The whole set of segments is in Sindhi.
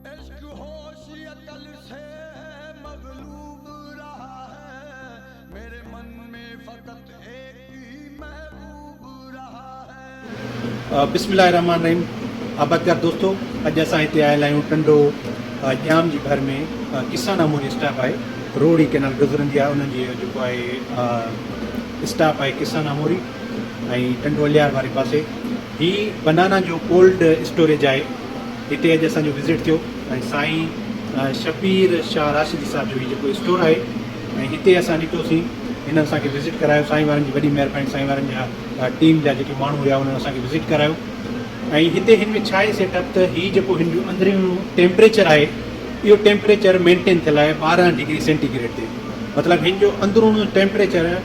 عشق هوش عقل سي مغلوب رها هي ميري من مين فقط ايڪ هي محبوب رها هي. بسم الله الرحمن الرحيم آبادگار دوستو اڄ اسان هتي آيل آهيون ٽنڊو ڄام جي ڀر ۾ ڪسان اموري اسٽاپ آهي روهڙي ڪينال گذرندي آهي انهن جي جيڪو آهي اسٽاپ آهي ڪسان اموري ۽ ٽنڊوليار واري پاسي هي بنانا جو ڪولڊ اسٽوريج آهي هتي اڄ اسان جو وزٽ ٿيو ۽ سائين شبير شاهه راشدي صاحب جو هي جيڪو اسٽور آهي ۽ هتي اسان ڏٺوسين هن اسان کي وزٽ ڪرايو سائين وارن جي وڏي مهرباني سائين وارن جا ٽيم جا جيڪي ماڻهو هيا انهن اسان کي وزٽ ڪرايو ۽ هتي هن ۾ ڇا آهي سيٽ اپ ته هي جيڪو هن جو اندريون ٽيمپريچر آهي اهو ٽيمپريچر مينٽين ٿيل آهي ٻارهن ڊگري سينٽي گريڊ تي مطلب هن جو اندرونو ٽيمپريچر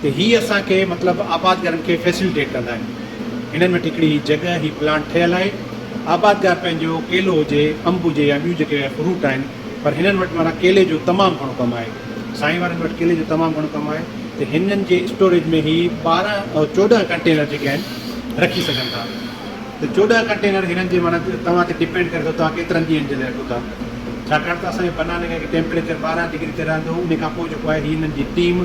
ته هي اسان کي مطلب آبادگارن کي فيسلٽيٽ ڪندا آهن هنن وٽ هڪڙي جڳهه هي پلانٽ ٺهيل آهي آبادگار پنهنجو ڪيلو هجي انب هجي يا ٻيون جيڪي فروٽ آهن پر هنن وٽ معنيٰ ڪيلي جو تمام گهڻو ڪم آهي سائين وارن وٽ ڪيلي جو تمام گهڻو ڪم آهي ته هنن جي اسٽوريج ۾ هي ٻارهن چوڏهن ڪنٽينر جيڪي آهن رکي سگهن ٿا ته چوڏهن ڪنٽينر هنن جي معنيٰ توهان تي ڊپينڊ ڪري ٿو توهان ڪيترن ڏينهن جي لاء رکو ٿا ڇاڪاڻ ته اسان جي بناني جي ٽيمپريچر ٻارهن ڊگري تي رهندو ان کان پوء جيڪو آهي هي هنن جي ٽيم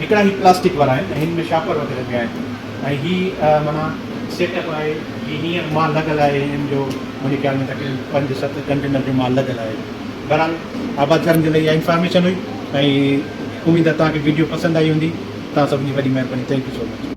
هڪڙا هي پلاسٽڪ وارا آهن ۽ هن ۾ شاپر وغيره به آهن ۽ هي معنيٰ سيٽ اپ آهي جي هينئر مال لڳل آهي هن جو منهنجي خيال ۾ تقريبن پنج ست ڪنٽينر جو مال لڳل آهي بهرحال آباد ڪرڻ جي لاء اها انفارميشن هئي ۽ اميد آهي توهان کي ويڊيو پسند آئي هوندي توهان سڀن جي وڏي مهرباني ٿينڪ يو سو مچ.